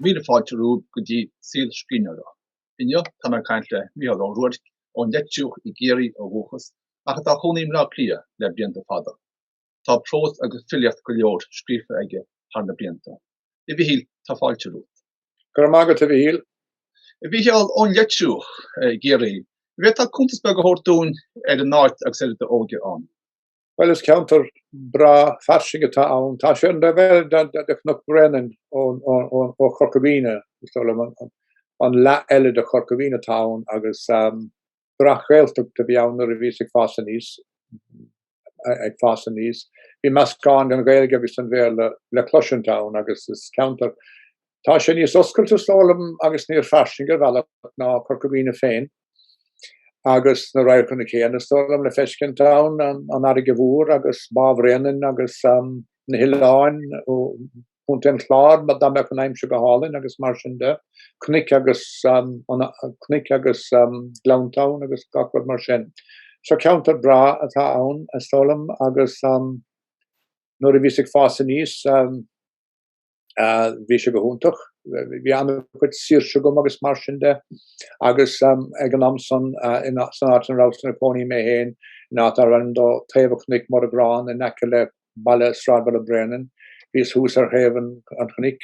Míle fáilte romhaibh go dtí Saol Scríbhneora. Inniu tá mé ag caint le Mícheál Ó Ruairc, ón Leitriúch i gCiarraí ó dhúchas, ach atá ina chónaí i mBleá Cliath le blianta fada. Tá prós agus filíocht go leor scríofa aige thar na blianta. A Mhichíl, tá fáilte romhat. Go raibh maith agat, a Mhichíl. A Mhichíl, ón Leitriúch i gCiarraí, an bhféadfá cuntas beag a thabhairt dúinn ar an áit agus ar d'óige ann? Bhuel is ceantar breá fairsing atá ann. Tá sé ar an taobh eile de Chnoc Bhréanainn ó Chorca Dhuibhne, is dóigh liom, an leath eile de Chorca Dhuibhne atá ann agus breac-Ghaeltacht a bhí ann nuair a bhíos ag fás aníos, ag fás aníos. Bhí meascán den Ghaeilge agus den Bhéarla le cloisint ann agus is ceantar, tá sé níos oscailte is dóigh liom agus níos fairsinge ar bhealach ná Corca Dhuibhne féin. agus na radharcanna céanna is dóigh liom le feiscint ann, an fharraige mhór agus Bá Bhréanainn agus na hoileáin, Contae an Chláir dá mbeadh an aimsir go hálainn agus mar sin de, cnoic agus cnoic agus gleannta agus gach rud mar sin. So ceantar breá atá ann is dóigh liom agus nuair a bhíos ag fás aníos, Bhí sé go hiontach. Bhí an-chuid saoirse agam agus mar sin de. Agus ag an am san, san áit ina rabhas i mo chónaí mé féin, in áit arb ainm dó Taobh an Chnoic, Muirirgeán in aice le baile sráidbhaile Bréanainn, bhíos thuas ar thaobh an chnoic.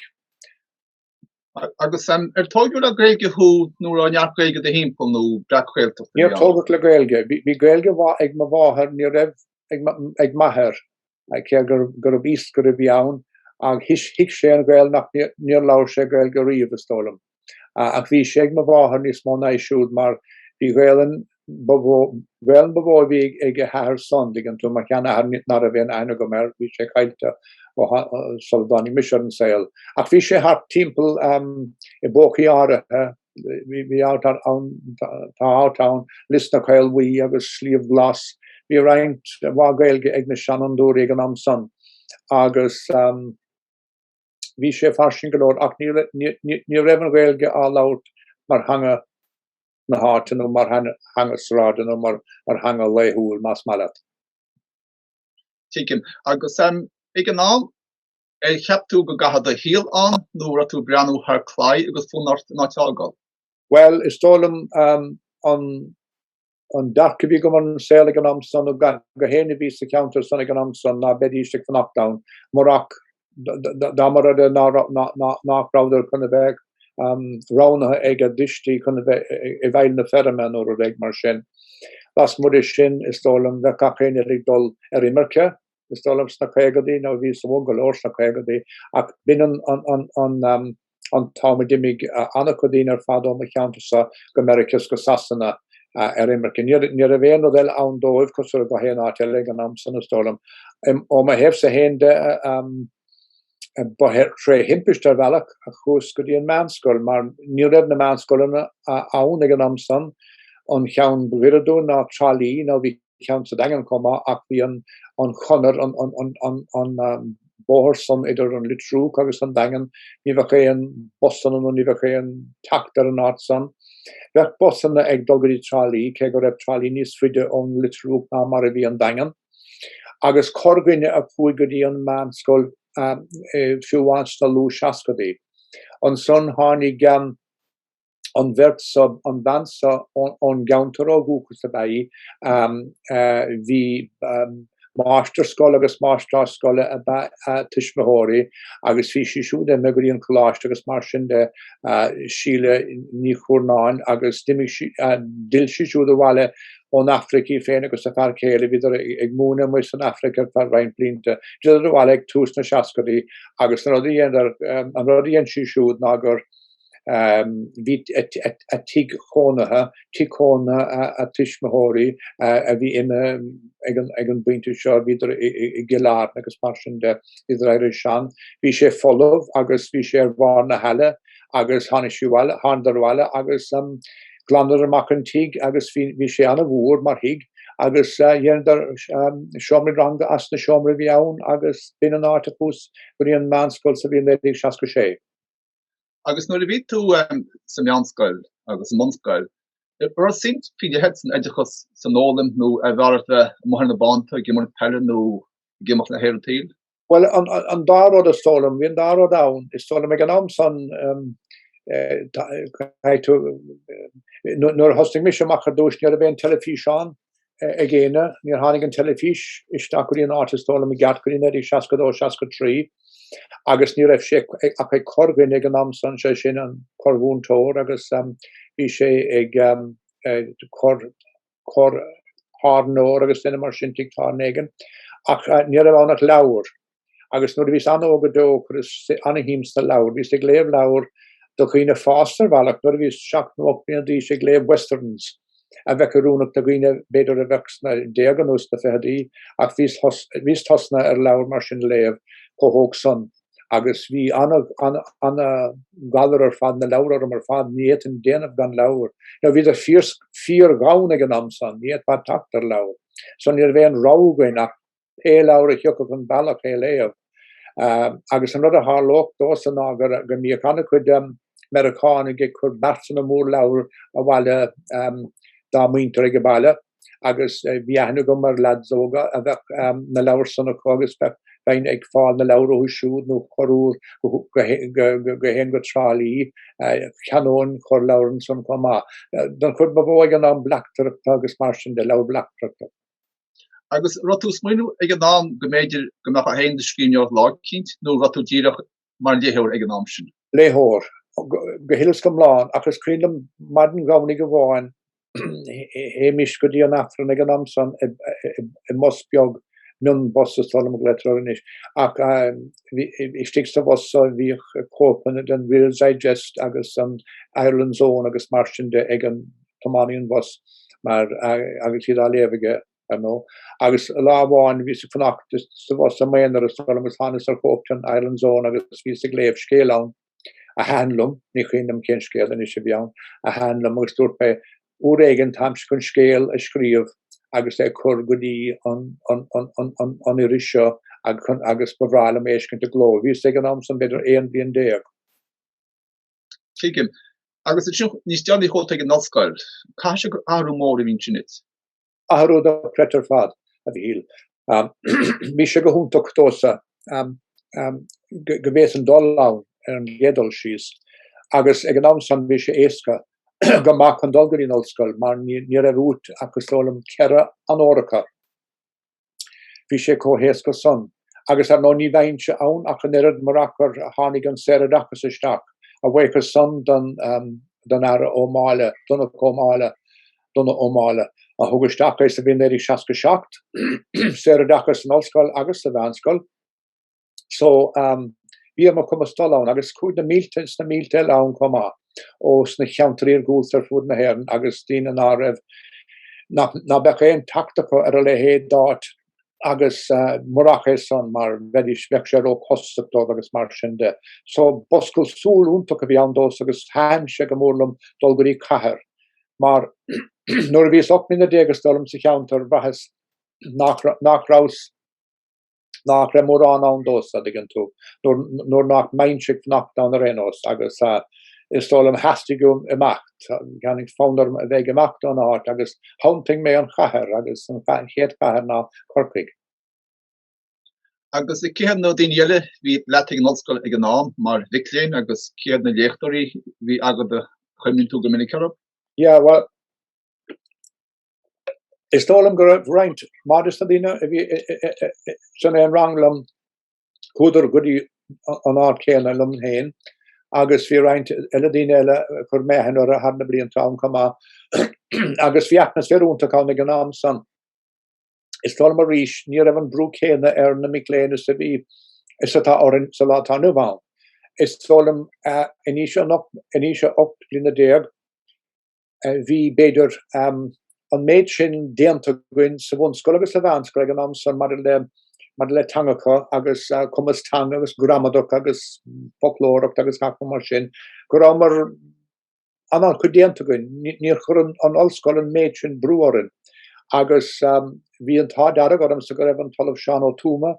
Agus ar tógadh le Gaeilge thú nó an raibh neart Gaeilge i do thimpeall nó breac-Ghaeltacht ann? Níor tógadh le Gaeilge. Bhí Gaeilge mhaith ag mo mháthair, ní raibh ag m'athair. go raibh a fhios go raibh sí ann ach thuig sé an Ghaelainn ach níor labhair sé Gaelainn riamh is dóigh liom. Ach bhí sé ag mo mháthair níos mó ná aige siúd mar bhí Gaelainn, Gaelainn ba mhó a bhí ag a hathair san, an dtuigeann tú, mo sheanathair nár raibh aon aithne agam air, bhí sé caillte sula dtáinig mise ar an saol. Ach bhí sé thart timpeall i bpócaí áirithe. bhí áit ann, tá áit ann, Lios na Caolbhaí agus Sliabh Glas, bhí roinnt mhaith Gaeilge ag na seanfhondúirí ag an am san agus bhí sé fairsing go leor ach ní raibh an Ghaeilge á labhairt mar theanga na háite nó mar theanga sráide nó mar theanga laethúil, más maith leat. Tuigim. Agus, ag an am, Ar cheap tú go gcaithfeá do shaol ann nó an raibh tú ag breathnú thar claí agus fonn ort an áit a fhágáil? Bhuel, is dóigh liom an dearcadh a bhí agam ar an saol ag an am san ná gach éinne a bhí sa cheantar san ag an am san ná beidís ag fanacht ann murach dá mba rud é nach rabhadar chun a bheith roghnaithe ag a dtuistí chun a bheith i bhfeighil na feirme nó rud éigin mar sin. Lasmuigh de sin, is dóigh liom bheadh gach éinne ag dul ar imirce is dóigh liom sna caogaidí nó bhíos-sa óg go leor sna caogaidí ach b'in an t-am a d'imigh an-chuid daoine ar fad ó mo cheantarsa go Meiriceá is go Sasana ar imirce. Ní raibh aon rud eile ann dóibh cosúil le gach aon áit eile ag an am san is dóigh liom. Ó mo thaobhsa féin de ba thrí thimpiste ar bhealach a chuas go dtí an meánscoil mar ní raibh na meánscoileanna ann ag an am san an cheann ba ghiorra dúinn ná Trá Lí nó bhí ceann sa Daingean chomh maith ach bhí an Chonair, an bóthar san idir an Litriúch agus an Daingean, ní bhíodh aon busanna nó ní bhíodh aon teacht ar an áit san. Bhíodh busanna ag dul go dtí Trá Lí, cé go raibh Trá Lí níos faide ón Litriúch ná mar a bhí an Daingean. Agus corrdhuine a chuaigh go dtí an meánscoil fiú amháin sna luathsheascadaí. Ansan tháinig an bheirt so, an bhean so ón gceantar ó dhúchas ab ea í. Bhí máistir scoile agus máistreás scoile ab ea a tuismitheoirí agus bhí sí siúd i mbun Gaeilge i gcoláiste agus mar sin de, Síle Ní Chúrnáin, agus d'imigh sí, d'fhill sí siúd abhaile ón Afraic í féin agus a fear céile. Bhíodar ag múineadh amuigh san Afraic ar feadh roinnt blianta. D'fhilleadar abhaile ag tús na seascaidí agus an rud a dheineadar, an rud a dhein sí siúd ná gur, Bhí a tigh cónaithe, tigh cónaithe a tuismitheoirí a bhí imithe ag an bpointe seo, bhíodar i gCill Airne agus mar sin de, bhíodar éirithe sean. Bhí sé folamh agus bhí sé ar bharr na haille agus tháinig sí abhaile, thánadar abhaile agus glanadar amach an tigh agus bhí sé an-mhór mar thigh agus dheineadar seomraí ranga as na seomraí a bhí ann agus b'in an áit a chuas go dtí an meánscoil sa bhliain 1966. agus nuair a bhí tú sa meánscoil agus sa mbunscoil an raibh suim faoi leith agat san oideachas san fhoghlaim nó arbh fhearr leat bheith amuigh ar na bánta ag imirt peile nó ag imeacht le haer an tsaoil? Bhuel an dá rud is dóigh liom, bhí an dá rud ann, is dóigh liom ag an am san nuair a thosnaigh mise amach ar dtús ní raibh aon teilifís ann ag éinne, níor tháinig an teilifís isteach go dtí an áit is dóigh liom i gceart go dtí naoi déag seasca a dó, seasca a trí agus ní raibh sé ach ag corrdhuine ag an am san, 'sé sin an corrmhúinteoir agus bhí sé ag corr, corr-aturnae nó agus duine mar sin tigh tábhairne éigin ach ní raibh ann ach leabhar. agus nuair a bhíos an-óg go deo chuireas an-shuim sna leabhair. Bhíos ag léamh leabhair do dhaoine fásta ar bhealach nuair a bhíos seacht nó ocht bliana d'aois, ag léamh westerns a bheadh oiriúnach do dhaoine b'fhéidir a bheadh sna déaga nó sna ficheadaí ach bhíos tosnaithe ar leabhair mar sin a léamh chomh hóg san agus bhí an-ghalar ar fad na leabhar orm ar fad. Ní fhéadfainn déanamh gan leabhair. Nó bhíodar fíorghann ag an am san, ní fhéadfá teacht ar leabhair. So ní raibh aon rogha againn ach pé leabhar a thiocfadh an bealach é a léamh. Agus an rud a tharlódh domhsa ná go mbíodh an-chuid Meiriceánaigh ag cur beartanna mór leabhar abhaile dá muintir ag an baile agus bhí aithne agam ar leaids óga a bheadh na leabhair san acu agus bheadh bhínn ag fáil na leabhar uathu siúd nó chuaigh mé go haon go Trá Lí, cheannóinn cuid leabhar ansan chomh maith. Don chuid ba mhó ag an am bleachtaireacht agus mar sin de, leabhair bleachtaireachta. Agus raibh tú ag smaoineamh ag an am go mb'fhéidir go mbeadh aon scríbhneoireacht lá éigin nó raibh tú díreach mar léitheoir ag an am sin? Léitheoir, go huile is go hiomlán, ach is cuimhin liom maidin Dhomhnaigh amháin théimis go dtí an Aifreann ag an am san i mbus beag mion bus is dóigh liom go ndeirtear anois ach istigh sa bhus so bhíodh cóipeanna den Reader's Digest agus an Ireland's Own agus mar sin de ag an tiománaí an bhus mar agus iad á léamh aige ar ndóigh. Agus lá amháin bhíos ag fanacht sa bhus i m'aonar is dóigh liom agus tháinas ar chóip den Ireland's Own agus bhíos ag léamh scéal ann a thaitin liom, ní chuimhin liom cén scéal anois a bhí ann, a thaitin liom agus dúirt mé uair éigin táimse chun scéal a scríobh agus é a chur go dtí an iris seo agus ba bhreá liom é a fheiscint i gcló. Bhíos ag an am san b'fhéidir aon bhliain déag. Tuigim. Agus ansin níos déanaí chuaigh tú chuig an ollscoil. Caithfidh sé gur athrú mór a bhí ansin duit. Athrú dochreidte ar fad, a Mhichíl. Bhí sé go hiontach domhsa go bhféadas dul ann ar an gcéad dul síos agus ag an am san bhí sé éasca go maith chun dul go dtí an ollscoil mar ní raibh uait ach is dóigh liom ceithre onóracha. Bhí sé chomh héasca san. Agus ar ndóigh ní bheinnse ann ach an oiread murach gur tháinig an saoroideachas isteach, a bhuíochas san don don Aire Ó Máille, Donogh Ó Máille, Donagh Ó Máille, a thug isteach é sa bhliain 1967, saoroideachas san ollscoil agus sa mheánscoil. so bhí ar mo chumas dul ann agus chuaigh na mílte is na mílte eile ann chomh maith ó sna ceantair iargúlta ar fud na hÉireann agus daoine ná raibh ná beadh aon teacht acu ar a leithéid d'áit agus murach é san mar bheidís bheadh sé róchostasach dóibh agus mar sin de. So b'oscailt súl iontach a bhí ann dósa agus thaitin sé go mór liom dul go dtí cathair mar nuair a bhíos ocht mbliana déag is dóigh liom sa cheantar bhraitheas nach rabhas nach raibh mórán ann dósa, a dtuigeann tú, nuair nach mbeinnse ag fanacht ann ar aon nós, agus is dóigh liom theastaigh uaim imeacht, tháinig fonn orm a bheith ag imeacht óna áit agus shantaigh mé an chathair agus an chéad chathair ná Corcaigh. Agus cé hiad na daoine eile a bhí leat ag an ollscoil ag an am, mar mhic léinn, agus cé hiad na léachtóirí a bhí agat a gcuimhníonn tú go minic orthu? Yeah, bhuel, Is dóigh liom go raibh roinnt mhaith des na daoine a bhí san aon rang liom, chuadar go dtí an áit céanna liom féin agus bhí roinnt eile daoine eile a chuir mé aithne orthu thar na blianta ann chomh maith agus bhí atmaisféar iontach ann ag an am san. Is dóigh liom arís ní raibh an brú céanna ar na mic léinn is a bhí, is atá orainn sa lá atá inniu ann. Is dóigh liom in aois a 18 bliana Bhí, b'fhéidir, an méid sin déanta againn sa bhunscoil agus sa mheánscoil ag an am san maidir le teangacha agus cumas teanga agus gramadach agus foclóireacht agus gach rud mar sin go rabhamar an-chuid déanta againn. Níor chuir an ollscoil an méid sin brú orainn agus bhí an t-ádh dearg ormsa go raibh an tOllamh Seán Ó Tuama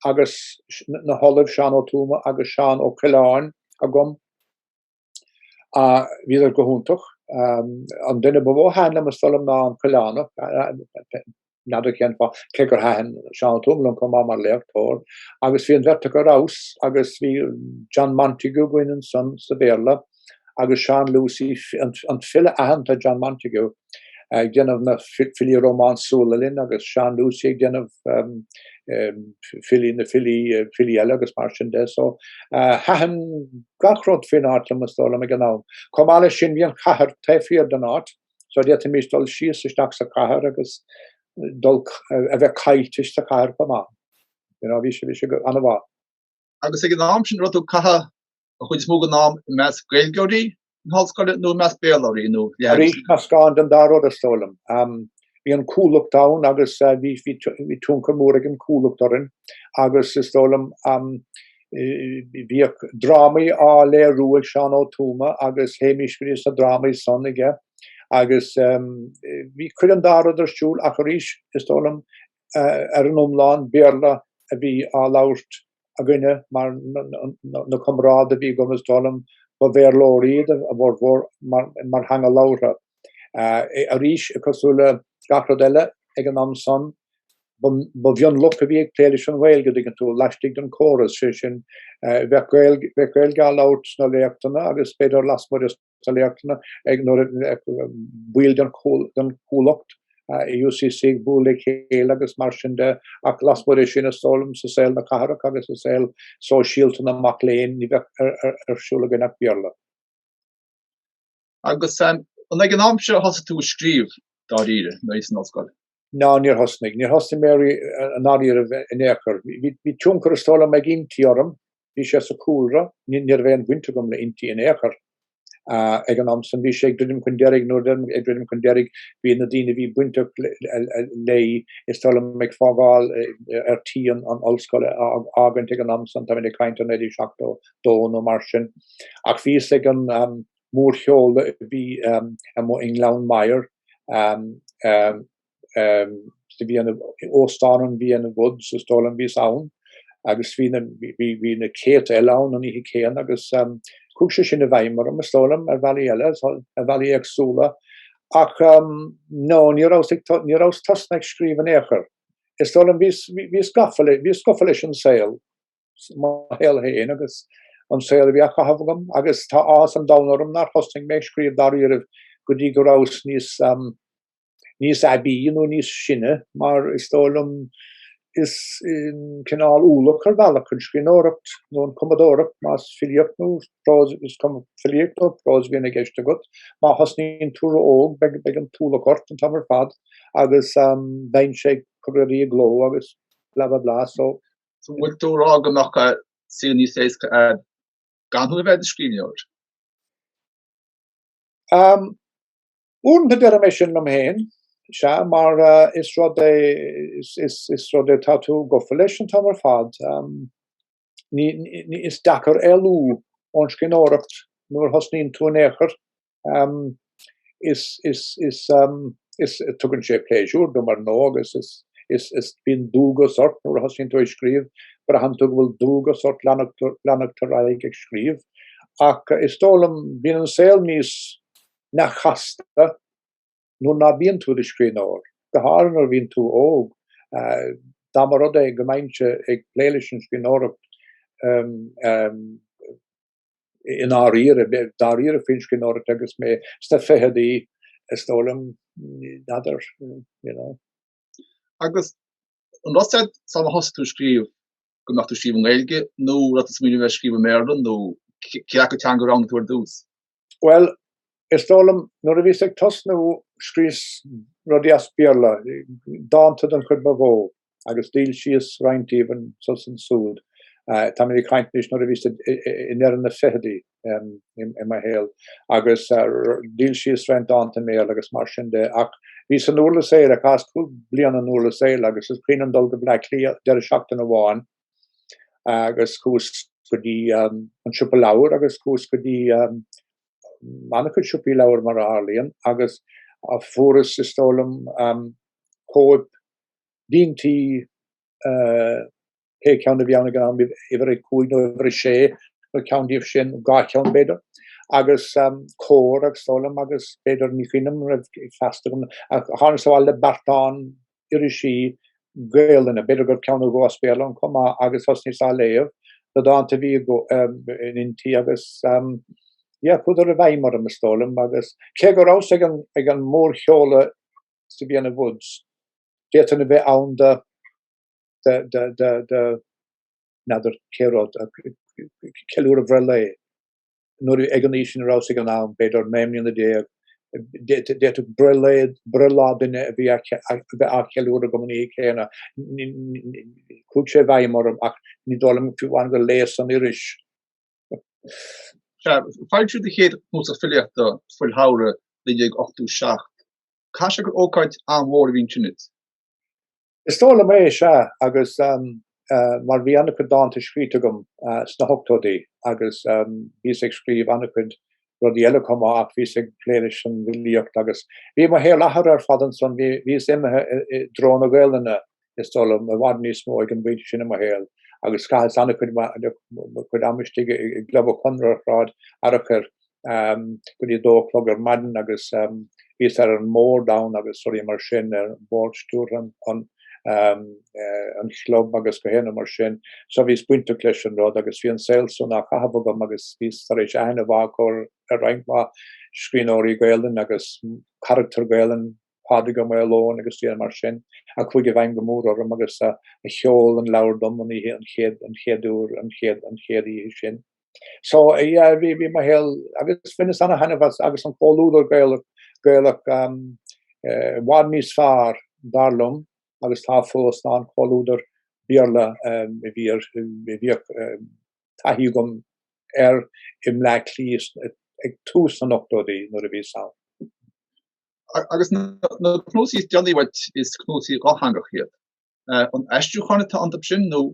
agus na hOllaimh Seán Ó Tuama agus Seán Ó Coileáin agam. Ach bhíodar go hiontach. An duine ba mhó a thaitin liom is dóigh liom ná an Coileánach, n'fheadar cén fáth, cé gur thaitin Seán Ó Tuama liom chomh maith mar léachtóir. Agus bhí an bheirt acu ar fheabhas agus bhí John Montague againn ansan sa Bhéarla agus Seán Lucy, an file aitheanta John Montague. ag déanamh na filí rómánsúla linn agus Seán Lucy ag déanamh filí na filí filí eile agus mar sin de so thaitin gach rud fén áit liom is dóigh liom ag an am. Chomh maith leis sin bhí an chathair taobh thiar den áit so d'fhéadfaimis dul síos isteach sa chathair agus dul a bheith caillte sa chathair chomh maith. You know bhí sé bhí sé an-mhaith. agus ag an am sin raibh tú ag caitheamh an chuid is mó den am i measc Gaeilgeoirí na hollscoile nó i measc Béarlóirí nó leathanaigh Arís sin? meascán den dá rud, is dóigh liom. Bhí an Chuallacht ann agus bhí bhí tionchar mór ag an gCuallacht orainn agus is dóigh liom bhíodh drámaí á léiriú ag Seán Ó Tuama agus théimis go dtí sna drámaí san aige agus bhí cuid den dá rud ar siúl ach arís is dóigh liom ar an iomlán, Béarla a bhí á labhairt againne mar na comrádaithe a bhí agam, is dóigh liom, ba Bhéarlóirí iad a bhformhór mar theanga labhartha. Arís, cosúil le gach rud eile ag an am san, ba mhionlach a bhí ag plé leis an Ghaeilge, an dtuigeann tú, laistigh den chóras, sé sin, bheadh Gaeilge á labhairt sna léachtanna agus b'fhéidir lasmuigh de. na léachtanna ag nuair a bheadh baill den Chuallacht i UCC ag bualadh le chéile agus mar sin de ach lasmuigh de sin is dóigh liom sa saol na cathrach agus sa saol sóisialta na mac léinn ní bheadh ar siúl againn ach Béarla. Agus an ag an am seo a thosaigh tú ag scríobh dáiríre nuair a bhís san ollscoil? Ná níor thosnaigh. Níor thosnaigh mé i ndáiríribh in aon chor. Bhí tionchar is dóigh liom ag Innti orm. Bhí sé sa chúlra. Ní raibh aon bhaint agam le Innti in aon chor ag an am san. Bhí sé ag druidim chun deiridh. Nuair a deirim ag druidim chun deiridh bhí na daoine a bhí bainteach léi is dóigh liom ag fágáil ar tí an ollscoil a fhágaint ag an am san. Táimid ag caint ar 1972 nó mar sin. Ach bhíos ag an. mórsheoladh a bhí amuigh i nGleann Maghair sa bhliain, Óstán an Vienna Woods is dóigh liom a bhí ann agus bhí na, bhí na céadta eile ann an oíche céanna agus chuaigh sé sin i bhfeidhm orm is dóigh liom, ar bhealaí eile, ar bhealaí éagsúla. Ach no, ní rabhas ag, ní rabhas tosnaithe ag scríobh in aon chor. Is dóigh liom, bhíos, bhíos gafa, bhíos gafa leis an saol. mo shaol féin agus an saol a bhí á chaitheamh agam agus tá áthas an domhain orm nár thosnaigh mé ag scríobh dáiríribh go dtí go rabhas níos níos aibí nó níos sine mar is dóigh liom is cineál ualach ar bhealach an scríbhneoireacht nó an cumadóireacht más filíocht nó prós is cuma filíocht nó prós a bhíonn i gceist agat má thosnaíonn tú ró-óg beidh beidh an t-ualach ort an t-am ar fad agus bheinnse ag cur rudaí i gcló agus bla bla bla so An bhfuil tú ag rá go mbeadh saol níos éasca a'd gan thú a bheith ina scríbhneoir? Uaireanta deirim é sin liom féin, sea, mar is rud é, is rud é atá tú gafa leis an t-am ar fad. Is deacair éalú ón scríbhneoireacht nuair a thosnaíonn tú in aon chor Is tugann sé pléisiúr dom ar ndóigh agus is bíonn dualgas ort nuair a thosaíonn tú ag scríobh. Braitheann tú go bhfuil dualgas ort leanacht ar aghaidh ag scríobh. Ach is dóigh liom bíonn an saol níos neamhchasta nuair ná bíonn tú i do scríbhneoir, go háirithe nuair a bhíonn tú óg. Dá mba rud é go mbeinnse ag plé leis an scríbhneoireacht, i ndáiríre, dáiríre faoin scríbhneoireacht agus mé sna ficheadaí is dóigh liom n'fheadar, you know. Agus an raibh a fhios a'd sular thosaigh tú ag scríobh go mbeadh tú ag scríobh i nGaeilge nó an raibh tú ag smaoineamh ar scríobh i mBéarla nó cé acu teanga a roghnaigh tú ar dtús? Bhuel, Is dóigh liom nuair a bhíos ag tosnú scríos rudaí as Béarla, dánta den chuid ba mhó agus d'fhoilsíos roinnt díobh anso is ansúd. Táimid ag caint anois nuair a bhíos i ndeireadh na ficheadaí i mo shaol agus d'fhoilsíos roinnt dánta i mBéarla agus mar sin de ach bhíos i nDurlas Éile chaitheas cúig bliana i nDurlas Éile agus is cuimhin liom dul go Bleá Cliath deireadh seachtaine amháin agus chuas go dtí an siopa leabhar agus chuas go dtí Nó na siopaí leabhar mar a tharlaíonn agus fuaireas is dóigh liom cóip d'Innti pé ceann a bhí ann ag an am, uimhir a cúig nó uimhir a sé nó ceann díobh sin, dhá cheann b'fhéidir, agus Comhar is dóigh liom agus b'fhéidir ní cuimhin liom an raibh Feasta agam. Ach thánasa abhaile le beartán irisí Gaelainne, b'fhéidir gur cheannaíos nuachtán chomh maith agus thosnaíos á léamh, na dánta a bhí in Innti agus yeah, chuadar i bhfeidhm orm, is dóigh liom, agus cé go rabhas ag an mórsheoladh sa Vienna Woods, d'fhéadfainn a bheith ann do, do, do, do, n'fheadar cé rud, ceiliúradh breithlae. Nuair ag an aois ina rabhas ag an am, b'fhéidir naoi mbliana déag, d'fhéadfadh breithlá duine a bheith á cheiliúradh agam an oíche chéanna. Chuaigh sé i bhfeidhm orm ach ní dóigh liom faoi mar a chuaigh ar léas san iris. Foilsíodh do chéad chnuasach filíochta, Fuil Shamhraidh, 1987. Caithfidh sé gur ócáid an-mhór a bhí ansin. Is dóigh liom é sea agus mar bhí an-chuid dánta scríte agam sna hochtóidí agus bhíos ag scríobh an-chuid rudaí eile chomh maith ach bhíos ag plé leis an bhfilíocht agus bhí mo shaol athraithe ar fad ansan, bhíos imithe i dtreo na Gaolainne is dóigh liom, i bhfad níos mó ag an bpointe sin i mo shaol agus chaitheas an-chuid ama istigh i gClub an Chonartha ar Shráid Fhearchair go dtí a dó a chlog ar maidin agus bhíos ar an mbord ann agus rudaí mar sin ar bhord stiúrtha an chlub agus gach aon ní mar sin. So bhíos bainteach leis an rud agus bhí an saol san á chaitheamh agam agus bhíos tar éis aithne mhaith a chur ar roinnt mhaith scríbhneoirí Gaelainn agus carachtair Ghaelainne, Pádraig Ua Maoileoin agus daoine mar sin, a chuaigh i bhfeidhm go mór orm agus a sheol an leabhar dom an oíche, an chéad, an chéad uair, an chéad, an chéad oíche sin. So yeah, bhí bhí mo shaol agus bhaineas ana-thaitneamh as agus an comhluadar Gaelach Gaelach um eh, i bhfad níos fearr dar liom agus tá fós ná an comhluadar Béarla um a bhí ar a bhíodh um taithí agam air i mBleá Cliath is eh, ag tús na n-ochtóidí nuair a bhíos ann. A- agus na na cnuasaí is déanaí uait is cnuasaí dhátheangach iad. Eh, an aistriúcháin atá iontu sin nó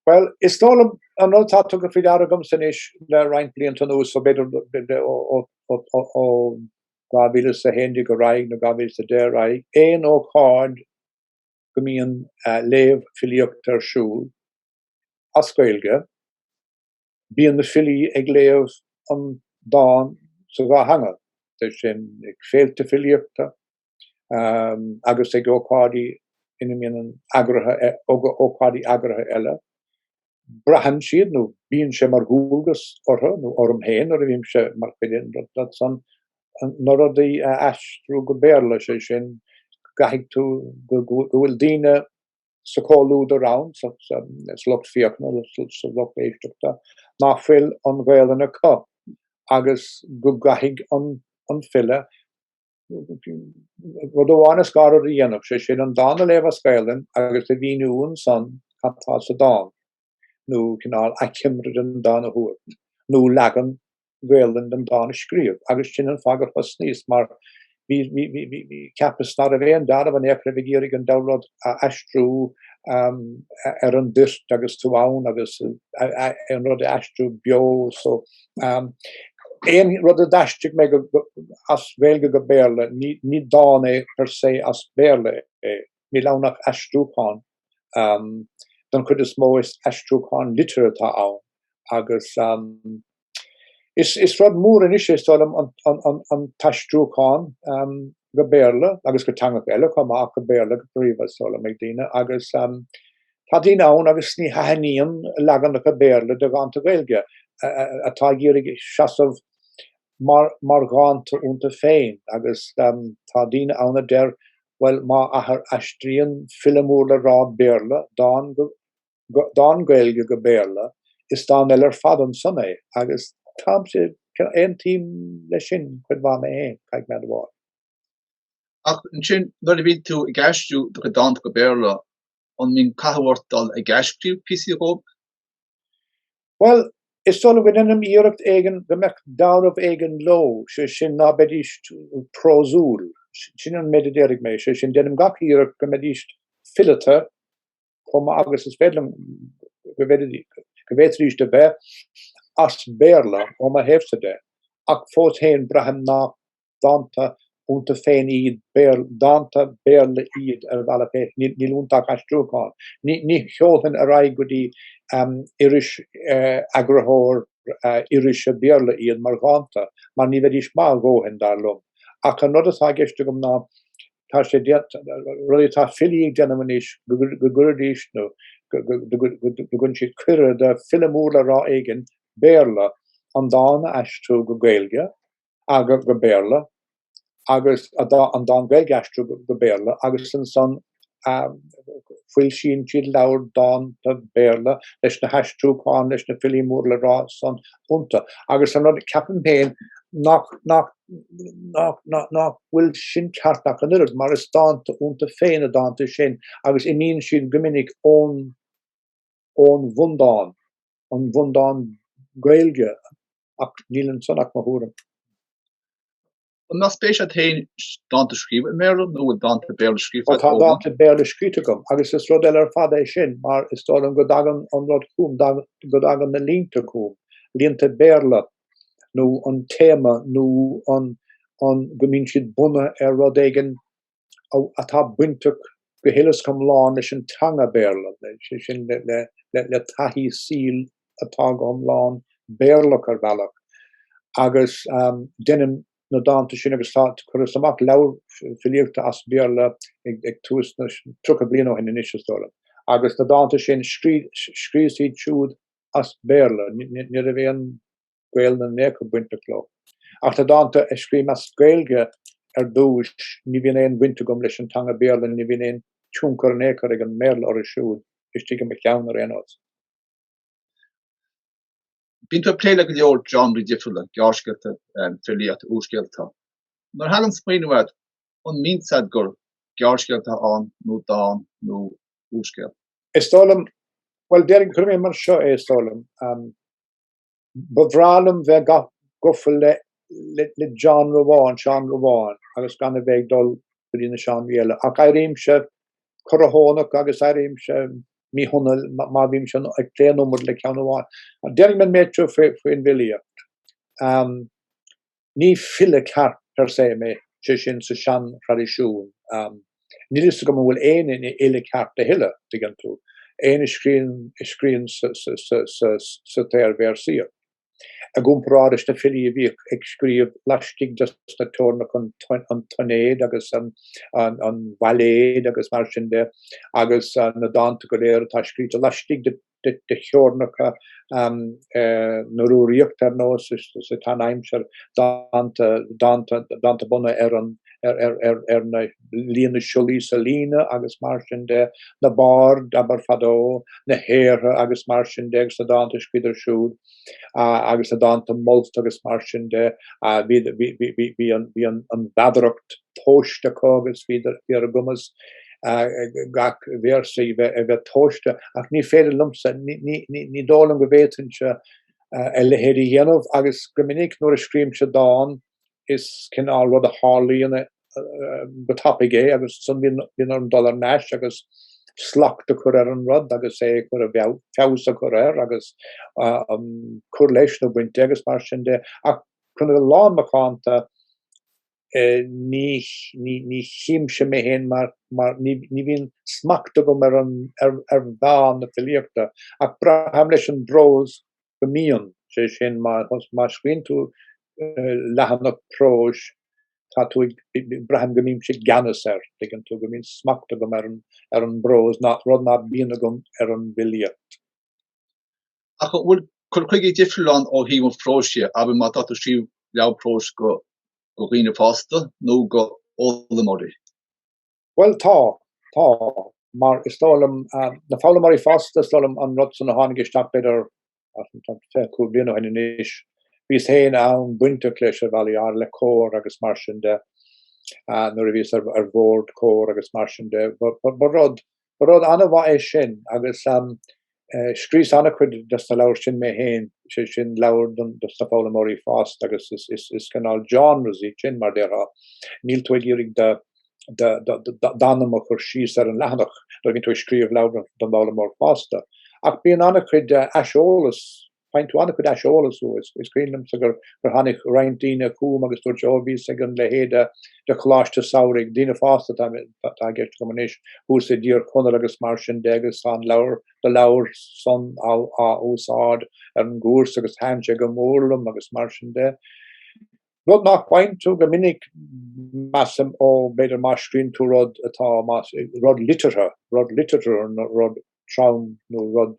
Bhuel, is dóigh liom an rud atá tugtha faoi deara agamsa anois le roinnt blianta anuas, so b'fhéidir ó 2011 ar aghaidh nó 2010 ar aghaidh, aon ócáid go mbíonn léamh filíochta ar siúl as Gaeilge, bíonn na filí ag léamh an dán sa dhá theanga, bíodh sin ag féilte filíochta, agus ag ócáidí ina mbíonn ana eagraithe ócáidí eagraithe eile. Braitheann siad nó bíonn sé mar dhualgas orthu nó orm féin nuair a bhímse mar chuid de na hócáidí san na rudaí a aistriú go Béarla, sé sin, gheobhaidh tú go bhfuil daoine sa chomhluadar ann, sa lucht féachana sa lucht éisteachta, nach bhfuil an Ghaelainn acu agus go gcaithfidh an file rud amháin is dhá rud a dhéanamh, sé sin an dán a léamh as Gaelainn agus a mhíniú ansan cad tá sa dán, nó cineál achoimre den dán a thabhairt, nó leagan Gaelainn den dán a scríobh, agus sin an fáth gur thosnaíos mar bhí cheapas ná raibh aon dealramh in é a bheith ag iarraidh an dá rud a aistriú ar an dtoirt agus tú ann agus an rud a aistriú beo so Aon rud a d'aistrigh mé as Gaeilge go Béarla, ní dán é per se as Béarla é. Níl ann ach aistriúchán. Don chuid is mó is aistriúchán litriúil atá ann agus is rud mór anois, is dóigh liom, an t-aistriúchán go Béarla agus go teangacha eile chomh maith ach go Béarla go príomha, is dóigh liom, ag daoine agus Tá daoine ann agus ní thaithníonn leaganacha Béarla de dhánta Gaeilge, atá ag iarraidh seasamh mar dhánta iontu féin agus tá daoine ann a deir bhuel má ath má aistríonn file mór le rá Béarla dán Gaeilge go Béarla, is dán eile ar fad ansan é agus táimse, aontaím le sin cuid mhaith mé féin, caithfidh mé a admháil. Ach ansin nuair a bhíonn tú ag aistriú do chuid dánta go Béarla, An mbíonn cathú ort dul ag athscríobh píosaí dhíobh? Bhuel, is dóigh liom déanaim iarracht éigin go mbeadh dealramh éigin leo, sé sin ná beidís prósúil, sin an méid a déarfaidh mé, sé sin déanaim gach iarracht go mbeidís fileata chomh maith agus is féidir liom go bhféadfaidís a bheith as Béarla ó mo thaobhsa de, ach fós féin braithim nach dánta iontu féin iad, dánta Béarla iad ar a mbealach féin, níl iontu ach aistriúcháin. Ní sheolfainn ar aghaidh go dtí iris, eagarthóir irise Béarla iad mar dhánta mar ní bheidís maith a ndóthain, dar liom. Ach an rud atá i gceist agam ná tá sé rud atá filí á dhéanamh anois go gcuiridís nó go gcuireann siad cuireadh do fhile mór le rá éigin, Béarla, an dán a aistriú go Gaeilge. agus go Béarla agus an dán Gaeilge a aistriú go Béarla agus ansan foilsíonn siad leabhar dánta Béarla leis na haistriúcháin leis na filí mór le rá san iontu agus an rud ceapaim féin nach nach nach nach nach bhfuil sin ceart ach an oiread mar is dánta iontu féin na dánta sin agus imíonn siad go minic ón ón bhundán, ón bhundán Gaeilge, ach níl ansan ach mo thuairim. An mbeadh spéis agat féin dánta a scríobh i mBéarla nó an bhfuil dánta Béarla scríofa agat? Tá dánta Béarla scríte agam agus is rud eile ar fad é sin mar is dóigh liom go dtagann an rud chugam, go dtagann na línte chugam, línte Béarla nó an téama nó go mbíonn siad bunaithe ar rud éigin atá bainteach go huile is go hiomlán leis an teanga Béarla, sé sin le taithí saoil atá go hiomlán Béarlach ar bhealach. Agus deinim na dánta sin agus chuireas amach leabhar filíochta as Béarla ag tús na, tríocha bliain ó shin anois is dóigh liom. Agus na dánta sin, scríos iad siúd as Béarla, ní raibh aon, Gaelainn in aon chor bainteach leo. Ach na dánta a scrím as Gaeilge ar dtúis, ní bhíonn aon bhaint agam leis an teanga Béarla, ní bhíonn aon tionchar in aon chor ag an mBéarla orthu siúd, istigh i mo cheann ar aon nós. Bíonn tú ag plé le go leor genreí difriúla, gearrscéalta, filíocht, úrscéalta. Nuair a thagann smaoineamh ort, an mbíonn a fhios agat gur gearrscéal atá ann nó dán nó úrscéal? Is dóigh liom, bhuel déarfainn, cuirfidh mé mar seo é, is dóigh liom. Ba bhreá liom bheith gafa le genre amháin, seánra amháin, agus gan a bheith ag dul go dtí na seánraí eile. Ach éirímse corrthónach agus éirímse míshona má bhímse ag plé an iomad le ceann amháin. Déarfaidh mé an méid seo faoin bhfilíocht. Ní file ceart per se mé, sé sin sa seanthraidisiún. Níl fhios agam an bhfuil éinne ina fhile ceart a thuilleadh, tuigeann tú, éinne a scríonn sa tsaor-véarsaíocht. I gcomparáid leis na filí a bhíodh ag scríobh laistigh de sna teorainneacha an tsoinéid agus an bhailéid agus mar sin de agus na dánta go léir atá scríte laistigh de de theorainneacha na rannaíochta ar nós sa tseanaimsir dánta bunaithe ar na líon na siollaí sa líne agus mar sin de, na baird, abair, fadó, na haortha agus mar sin de agus na dánta a scríobhadar siúd. agus na dánta molta agus mar sin de. Bhí an mheadaracht tomhaiste acu agus bhíodar ar a gcumas gach véarsa a bheith tomhaiste ach ní féidir liomsa, ní dóigh liom go bhféadfainnse a leithéid a dhéanamh agus go minic nuair a scríobhaimse dán is cineál rud a tharlaíonn go tapaidh é agus san bhíonn orm dul ar n-ais agus slacht a chur ar an rud agus é a chur, feabhas a chur air agus cur leis nó baint de agus mar sin de ach chun a bheith lánmhacánta ní chímse mé fhéin mar ní bhíonn smacht agam ar mheán na filíochta ach braithim leis an bprós go mbíonn, sé sin má scríonn tú leathanach próis tá tú ag braithim go mbímse i gceannas air, tuigeann tú, go mbíonn smacht agam ar an bprós, rud ná bíonn agam ar an bhfilíocht. Ach an bhfuil cur chuige difriúil ann ó thaobh an phróis de, abair má tá tú ag scríobh leabhar próis go dhaoine fásta nó go fhoghlaimeoirí? Bhuel, tá. Tá. Mar is dóigh liom, na foghlaimeoirí fásta, is dóigh liom an rud san a tháinig isteach b'fhéidir fiche cúig bliana ó shin anois, bhíos féin an-bhainteach leis ar bhealaí áirithe, le Comhar agus mar sin de, nuair a bhíos ar bhord Comhar agus mar sin de. Ba rud Ba rud an-mhaith é sin agus scríos an-chuid dos na leabhair sin mé féin, sé sin leabhair dos na foghlaimeoirí fásta agus is cineál genres iad sin mar déarfá. Níl tú ag iarraidh d'anam a chur síos ar an leathanach, nuair a bhíonn tú ag scríobh leabhar don bhfoghlaimeoir fásta. Ach bíonn an-chuid aiseolas Faigheann tú an-chuid aiseolais uaidh. Is cuimhin liomsa gur tháinig roinnt daoine chugam agus dúirt, oh, bhíos ag an leithéid de choláiste samhraidh, daoine fásta atá i gceist agam anois, thuas i dTír Chonaill agus mar sin de agus tá an leabhar, na leabhair san á úsáid ar an gcúrsa agus thaitin sé go mór liom agus mar sin de. Rud nach bhfaigheann tú go minic measaim ó b'fhéidir má scríonn tú rud atá rud liteartha, rud liteartha nó rud trom nó rud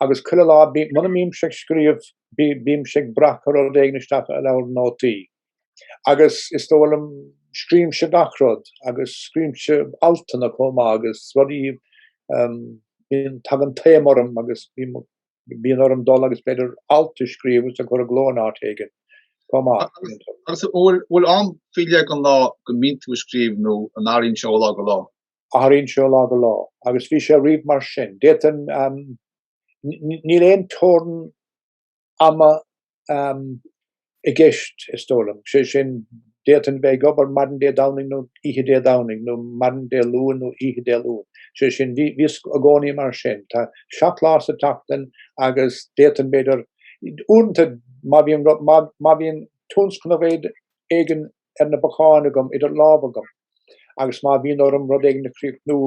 agus chuile lá muna mbímse ag scríobh bímse ag breacadh rud éigin isteach i leabhar nótaí agus is dóigh liom scríobhimse gach rud agus scríobhimse altanna chomh maith agus rudaí bíonn tagann taom orm agus bíonn orm dul agus b'fhéidir alt a scríobh agus a chur i gcló in áit éigin chomh maith. Agus bhfuil am faoi leith den lá go mbíonn tú ag scríobh nó an athraíonn sé ó lá go lá? Athraíonn sé ó lá go lá agus bhí sé riamh mar sin. D'fhéadfainn, níl aon teorainn ama i gceist is dóigh liom, sé sin d'fhéadfainn bheith ag obair maidin Dé Domhnaigh nó oíche Dé Domhnaigh nó maidin Dé Luain nó oíche Dé Luain. Sé sin, bhí sé i gcónaí mar sin. Tá seacht lá sa tseachtain agus d'fhéadfainn, b'fhéidir, uaireanta má bhíonn, má bhíonn tionscnamh éigin ar na bacáin agam idir lámh agam agus má bhíonn orm rud éigin a chríochnú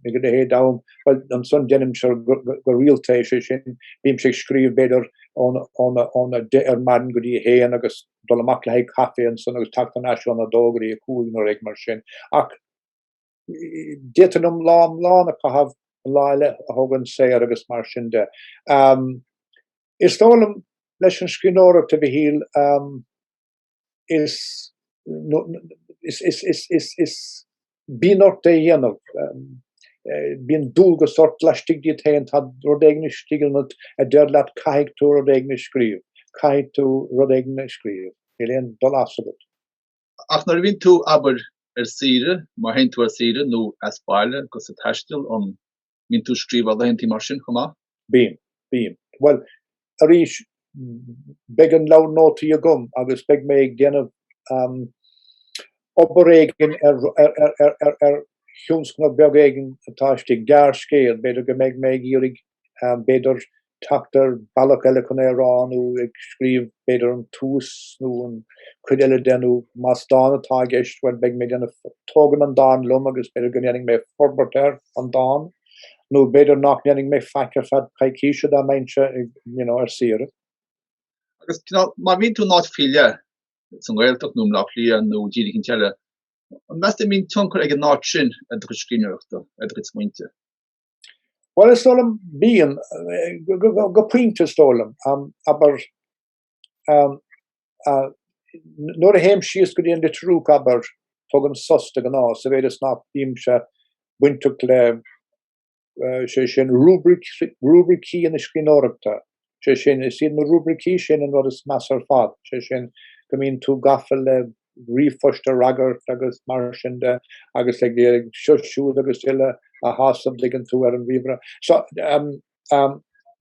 ag a leithéid d'am, bhuel, ansan deinimse é go rialta, sé sin, bímse ag scríobh, b'fhéidir, ón a deich ar maidin go dtí a haon agus dul amach le haghaidh caife ansan agus teacht thar n-ais ón a dó go dtí a cúig nó rud mar sin. Ach d'fhéadfainn lá iomlán a chaitheamh an lá eile a thógaint saor agus mar sin de. Is dóigh liom leis an scríbhneoireacht a Mhichíl, is bíonn ort é a dhéanamh, bíonn dualgas ort laistigh díot féin, tá rud éigin istigh ionat a deir leat caithfidh tú rud éigin a scríobh, caithfidh tú rud éigin a scríobh, níl aon dul as agat. Ach nuair a bhíonn tú abair ar saoire, má théann tú ar saoire nó as baile agus ag taisteal, an. mbíonn tú ag scríobh ar laethantí mar sin chomh maith? Bím. Bím. Bhuel, arís, beidh an leabhar nótaí agam agus beidh mé ag déanamh obair éigin ar thionscnamh beag éigin atá istigh, gearrscéal, b'fhéidir go mbeidh mé ag iarraidh, b'fhéidir, teacht ar bhealach eile chun é a rá nó ag scríobh, b'fhéidir an tús nó aon chuid eile de nó más dán atá i gceist, bhuel beidh mé ag déanamh, tógaim an dán liom agus b'fhéidir go ndéanfaidh mé forbairt ar an dán, nó b'fhéidir nach ndéanfaidh mé faic ar feadh coicíse dá mbeinnse you know ar saoire. Agus you know má bhíonn tú in áit faoi leith, sa nGaeltacht nó i mBleá Cliath nó i dtír éicint eile, an meas tú go mbíonn tionchar ag an áit sin ar do chuid scríbhneoireachta, ar do chuid smaointe? Bhuel is dóigh liom bíonn, go pointe is dóigh liom, abair, nuair a théim síos go dtí an Leitriúch abair tugaim sos de ghnáth sa mhéid is nach mbímse bainteach le, sé sin, rúibricí na scríbhneoireachta sé sin. Is iad na rúibricí sin an rud is measa ar fad, sé sin, go mbíonn tú gafa le ríomhphost a fhreagairt agus mar sin de agus éilimh seo siúd agus uile a shásamh dtuigeann tú ar an ríomhaire. So,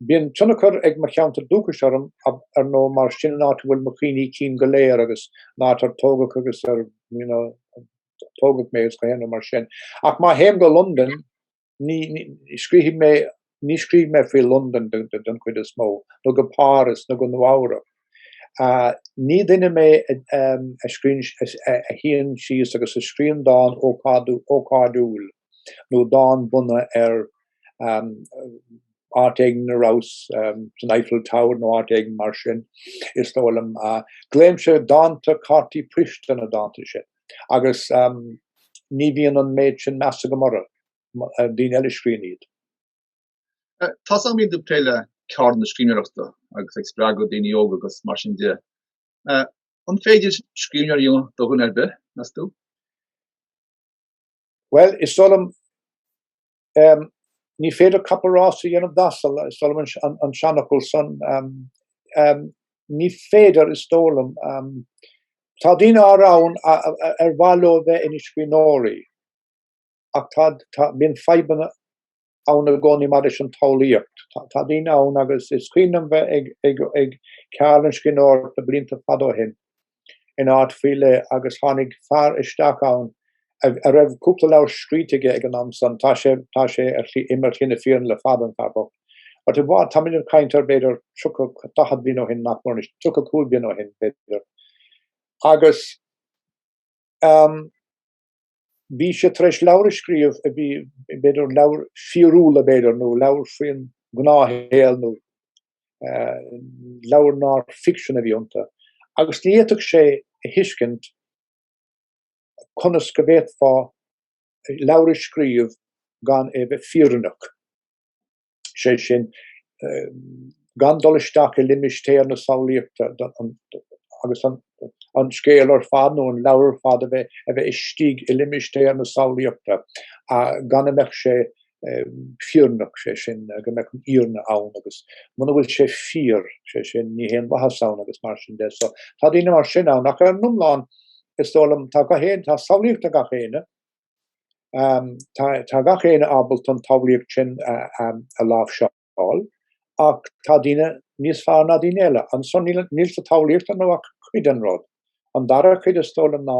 bíonn tionchar ag mo cheantar dúchais orm, ar ndóigh, mar sin é an áit a bhfuil mo chuimhní cinn go léir agus an áit ar tógadh agus ar, you know, tógadh mé is gach aon rud mar sin. Ach má théim go Londain, Ní scríobhaim, ní scríobhaim faoi Londain den chuid is mó, nó go Páras nó go Nua-Eabhrac. Ní duine mé a scríonn, a shuíonn síos agus a scríonn dán ócáidiúil nó dán bunaithe ar áit éigin a rabhas, san Eiffel Tower nó áit éigin mar sin, is dóigh liom. Glaoimse dánta cártaí poist ar na dánta sin. agus ní bhíonn an méid sin measa agam orthu, daoine eile a scríonn iad. Tá tusa ag plé le ceardlanna scríbhneoireachta agus ag spreagadh daoine óga agus mar sin de. An féidir scríbhneoir a dhéanamh de dhuine ar bith, meas tú? Bhuel, is dóigh liom Ní féidir capall rása a dhéanamh d'asal, is dóigh liom, an seanfhocal san. Ní féidir, is dóigh liom. Tá daoine áirithe ann ar mhaith leo a bheith ina scríbhneoirí ach bíonn fadhbanna ann i gcónaí maidir leis an tsamhlaíocht. Tá daoine ann agus is cuimhin liom bheith ag ceardlann scríbhneoireachta blianta fada ó shin in áit faoi leith agus tháinig fear isteach ann a raibh cúpla leabhar scríte aige ag an am san. Tá sé, tá sé ar shlí im ar shlí na fírinne le fada, an fear bocht. But it was, tá muid ag caint ar b'fhéidir tríocha, daichead bliain ó shin, nach mór anois, tríocha a cúig bliain ó shin, b'fhéidir. Agus, ehm. bhí sé tar éis leabhair a scríobh a bhí, b'fhéidir, leabhair fhíriciúla b'fhéidir, nó leabhair faoin ngnáthshaol nó leabhair nár ficsean a bhí iontu. Agus ní fhéadfadh sé a thuiscint conas go bhféadfá leabhar a scríobh gan é a bheith fírinneach. sé sin gan dul isteach i limistéar na samhlaíochta agus an scéal ar fad nó an leabhar ar fad a bheith istigh i limistéar na samhlaíochta gan go mbeadh sé fírinneach, sé sin, go mbeadh an fhírinne ann agus muna bhfuil sé fíor, sé sin, níl aon mhaitheas ann agus mar sin de. So tá daoine mar sin ann ach ar an iomlán is dóigh liom tá gach éinne, tá samhlaíocht ag gach éinne, Tá gach éinne ábalta an tsamhlaíocht sin a láimhseáil ach tá daoine níos fearr ná daoine eile. Ansan níl sa tsamhlaíocht anois ach cuid den rud. An dara cuid is dóigh liom ná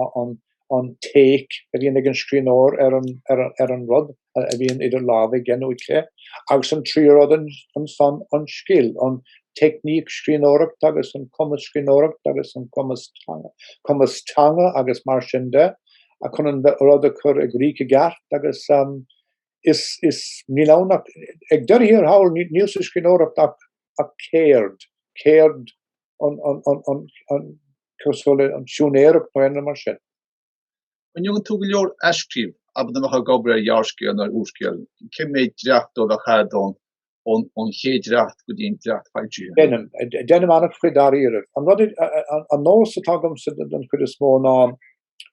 an take a bhíonn ag an scríbhneoir ar an rud a bhíonn idir lámha aige nó aici agus an tríú rud ansan an scil, an teicníc scríbhneoireachta agus an cumas scríbhneoireachta agus an cumas teanga agus mar sin de. chun an rud a chur i gcrích i gceart agus is níl ann ach, ag deireadh thiar thall, níl sa scríbhneoireacht ach ceird, ceird cosúil le siúinéireacht nó aon rud mar sin. An ndéanann tú go leor athscríobh, abair dá mbeifeá ag obair ar ghearrscéal nó ar úrscéal, cé mhéad dréacht díobh a chaithfeá ón ón chéad dréacht go dtí an dréacht foilsithe. Deinim an-chuid de dháiríribh. An rud, an nós atá agamsa den chuid is mó ná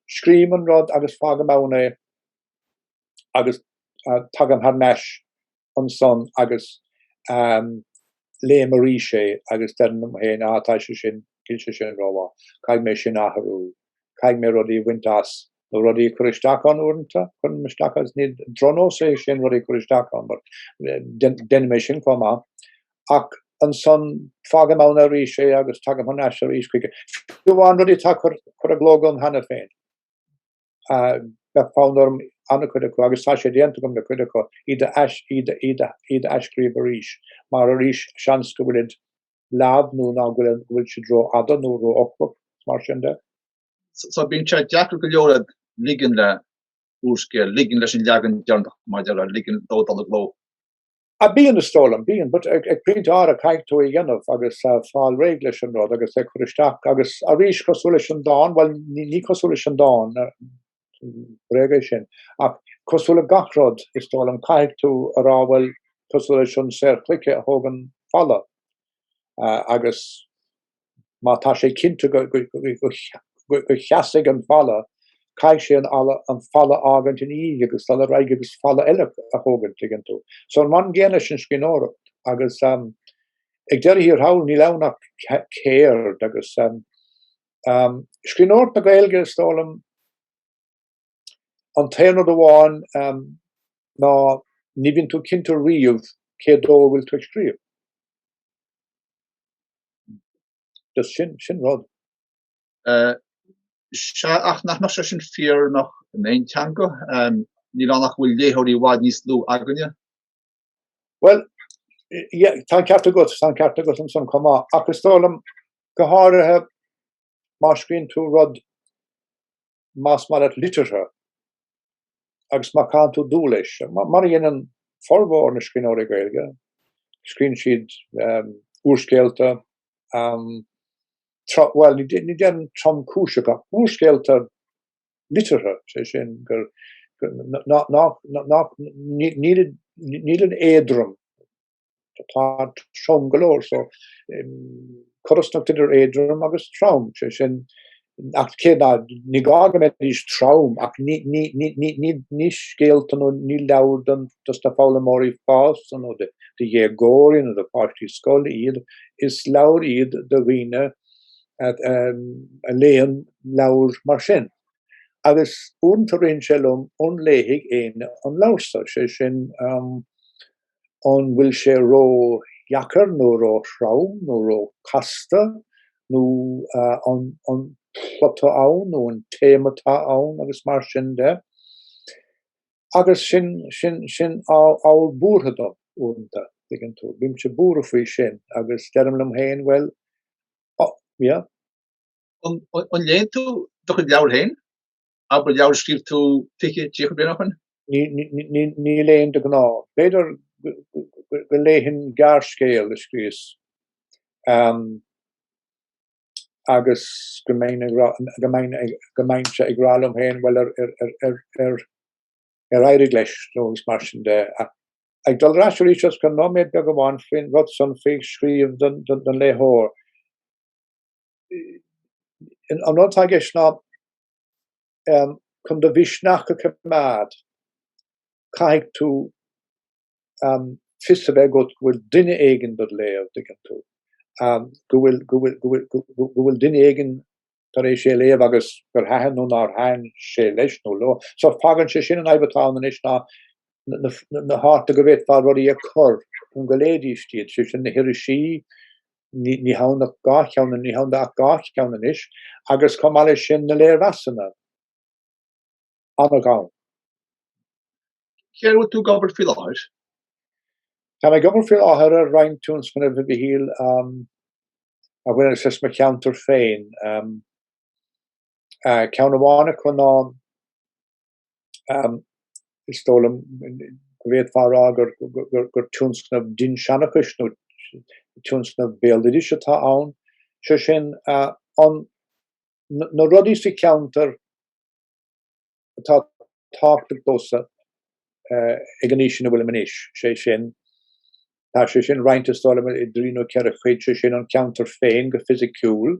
scríobhaim an rud agus fágaim ann é agus tagaim thar n-ais ansan agus léim arís é agus deirim liom féin, ah, tá sé sin, níl sé sin ró-mhaith, caithfidh mé sin a athrú, caithfidh mé rudaí a bhaint as nó rudaí a cur isteach ann uaireanta, cuirim isteach agus is drochnós é sin rudaí a cur isteach ann but deinim mé sin chomh maith ach ansan fágaim ann arís é agus tagaim thar n-ais arís chuige. Fiú amháin rudaí atá curtha i gcló agam cheana féin bheadh fonn orm an-chuid acu agus tá sé déanta agam le cuid acu iad a ais, iad a, iad a, iad a athscríobh arís mar arís seans go bhfuil siad leamh nó go bhfuil siad ró-fhada nó ró-fhoclach, is mar sin de. So bíonn sé deacair go leor ag ligean le úrscéal, ligean leis an leagan deireanach mar a déarfá, ligean dó dul i gcló. Ah bíonn is dóigh liom, bíonn, but ag pointe áirithe caithfidh tú é a dhéanamh agus fáil réidh leis an rud agus é a chur isteach agus arís cosúil leis an dán, bhuel ní ní cosúil leis an dán, bréag é sin, ach cosúil le gach rud is dóigh liom caithfidh tú a rá bhuel cosúil leis an saor cloiche a thógann falla agus Má tá sé cinnte go seasfaidh an falla, caithfidh sé an falla a fhágaint ina dhiaidh agus dul ar aghaidh agus falla eile a thógaint, tuigeann tú. So an rud céanna leis an scríbhneoireacht agus ag deireadh thiar thall níl ann ach ceird agus scríbhneoireacht na Gaeilge is dóigh liom, An t-aon rud amháin ná ní bhíonn tú cinnte riamh cé dó a bhfuil tú ag scríobh. Just sin, sin rud. Sea, ach nach mbeadh sé sin fírinneach in aon teanga? Níl ann ach go bhfuil léitheoirí i bhfad níos lú againne. Bhuel, yeah, tá an ceart agat, tá an ceart agat ansan chomh maith. Ach is dóigh liom, go háirithe, má scríobhann tú rud más maith leat liteartha agus má chaitheann tú dua leis, mar a dhéanann formhór na scríbhneoirí Gaeilge, scríobhann siad úrscéalta, bhuel, ní dhéanann tromchuid acu, úrscéalta liteartha, is é sin gur níl an éadrom Tá trom go leor so cothromaíocht idir éadrom agus trom sé sin ach cé ná ní gá go mbeidís trom ach ní ní ní ní ní ní scéalta nó ní leabhair dos dos na foghlaimeoirí fásta nó de de dhéagóirí nó de pháistí scoile iad is leabhair iad do dhaoine a léann leabhair mar sin agus uaireanta rithíonn sé liom an léifidh éinne an leabhar so sé sin an bhfuil sé ró-dheacair nó ró-throm nó ró-chasta nó an an plot ann nó an téama atá ann agus mar sin de agus sin sin sin ábhar buartha dom uaireanta tuigeann tú. Bímse buartha faoi sin agus deirim liom féin bhuel yeah. An léann tú do chuid leabhar féin? Abair leabhar a scríobh tú fiche, tríocha bliain ó shoin? Ní léim de ghnáth. B'fhéidir go léifinn gearrscéal a scríos agus go mbeinn-se ag rá liom féin, bhuel ar éirigh leis nó agus mar sin de. Ag dul ar ais arís chun nóiméad beag amháin faoin rud san faoi scríobh don léitheoir. an rud atá i gceist ná chun do mhisneach a choimeád caithfidh tú fios a bheith agat go bhfuil duine éigin dod léamh, tuigeann tú, go bhfuil duine éigin tar éis é léamh agus gur thaitin nó nár thaitin sé leis nó leo. So fágann sé sin an fhadhb atá ann anois ná na háiteanna go bhféadfá rudaí a chur chun go léifidís iad, sé sin na hirisí, ní h-ann ach dhá cheann anois, ní hann ach dhá cheann anois, agus chomh maith leis sin na léirmheasanna ana ghann. Cad air a bhfuil tú ag obair faoi láthair? Táim ag obair faoi láthair ar roinnt tionscnaimh éigin a bhaineann le mo cheantar féin. Ceann amháin acu ná Is dóigh liom go bhféadfá a rá gur tionscnamh dinnseanchais nó tionscnamh béaloidis atá ann, sé sin, an na rudaí sa cheantar atá tábhachtach domhsa ag an aois ina bhfuilim anois, sé sin, tá sé sin roinnte is dóigh liom i dtrí nó ceithre chuid, sé sin, an ceantar féin go fisiciúil,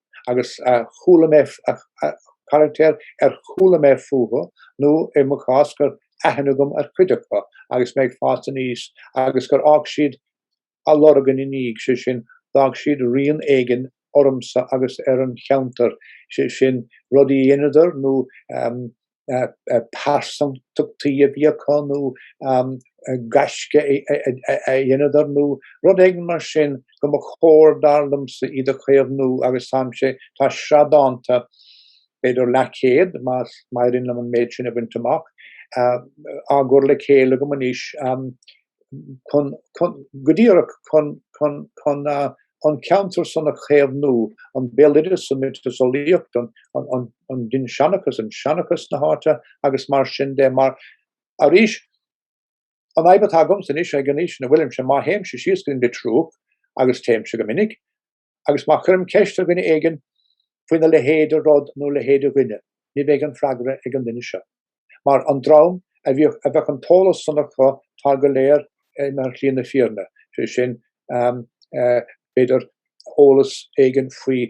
agus chuala mé carachtair ar chuala mé fúthu nó i mo chás go raibh aithne agam ar chuid acu agus mé ag fás aníos agus gur fhág siad a lorg ina ndiaidh, sé sin, d'fhág siad rian éigin ormsa agus ar an cheantar, sé sin, rudaí a dheineadar nó pearsantachtaí a bhí acu nó gaisce a dheineadar nó rud éigin mar sin go mba chóir, dar liomsa, iad a chaomhnú agus táimse, tá sraith dánta, b'fhéidir leathchéad má éiríonn liom an méid sin a bhaint amach, á gcur le chéile agam anois. chun, go díreach chun, chun, chun an ceantar san a chaomhnú, an béaloideas, an miotaseolaíocht, an dinseanchas, an seanchas na háite agus mar sin de. Mar arís an fhadhb atá agamsa anois ag an aois ina bhfuilimse, má théimse síos go Leitriúch agus téimse go minic, agus má chuirim ceist ar dhuine éigin faoina leithéid de rud nó leithéid de dhuine, ní bheidh an freagra ag an duine seo. Mar an dream a bhíodh a bheadh an t-eolas san acu tá go léir ar shlí na fírinne, sé sin b'fhéidir eolas éigin faoi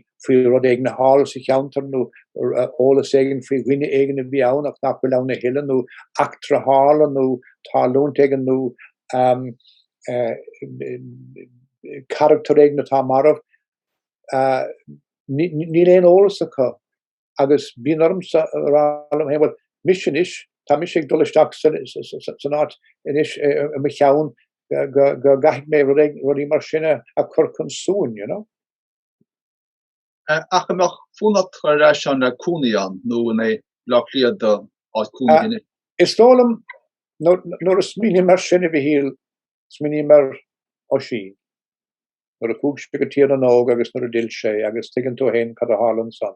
rud éigin a tharla sa cheantar nó eolas éigin faoi dhuine éigin a bhí ann ach nach bhfuil ann a thuilleadh nó eachtra a tharla nó tarlúint éigin nó carachtar éigin atá marbh, níl aon eolas acu agus bíonn ormsa a rá liom féin, bhuel mise anois, tá mise ag dul isteach san áit anois i mo cheann go gcaithfidh mé rudaí mar sin a chur chun suain, you know. Ach an mbeadh fonn ort ar ais ann le cónaí ann nó an é Bleá Cliath do áit cónaí anois? Is dóigh liom nuair a smaoiním ar sin, a Mhichíl, smaoiním ar Oisín. Nuair a chuaigh sé go Tír na nÓg agus nuair a d'fhill sé agus tuigeann tú fhéin cad a tharla ansan.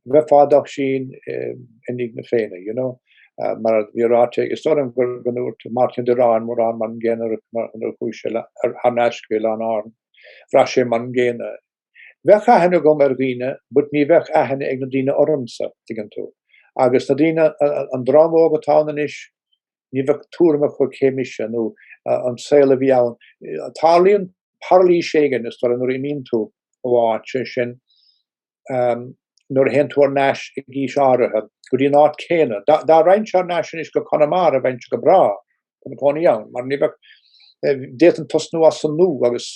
a bheith i d'Oisín i ndiaidh na Féinne, you know, mar a bhí ráite aige. Is dóigh liom go ndúirt Máirtín Ó Direáin, mórán mar an gcéanna a rith mar nuair a chuaigh sé thar n-ais go hOileán Árann, bhraith sé mar an gcéanna. Bheadh aithne agam ar dhaoine, but ní bheadh aithne ag na daoine ormsa, tuigeann tú. Agus na daoine, an dream óg atá ann anois, ní bheadh tuairim acu cé mise nó an saol a bhí ann. Tarlaíonn pairilis éigin, is dóigh liom, nuair a imíonn tú ó áit, sé sin, um, nuair a théann tú thar n-ais ag aois áirithe, go dtí an áit céanna. Dá, dá raghainn thar n-ais anois go Conamara, bheinnse go breá, chun cónaí ann, mar ní bheadh, eh, d'fhéadfainn tosnú as an nua agus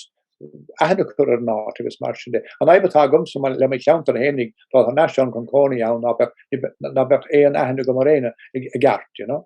aithne a chur ar an áit agus mar sin de. An fhadhb atá agamsa le mo cheantar féinig dá raghainn thar n-ais ann chun cónaí ann ná beadh aon aithne agam ar éinne i gceart, you know?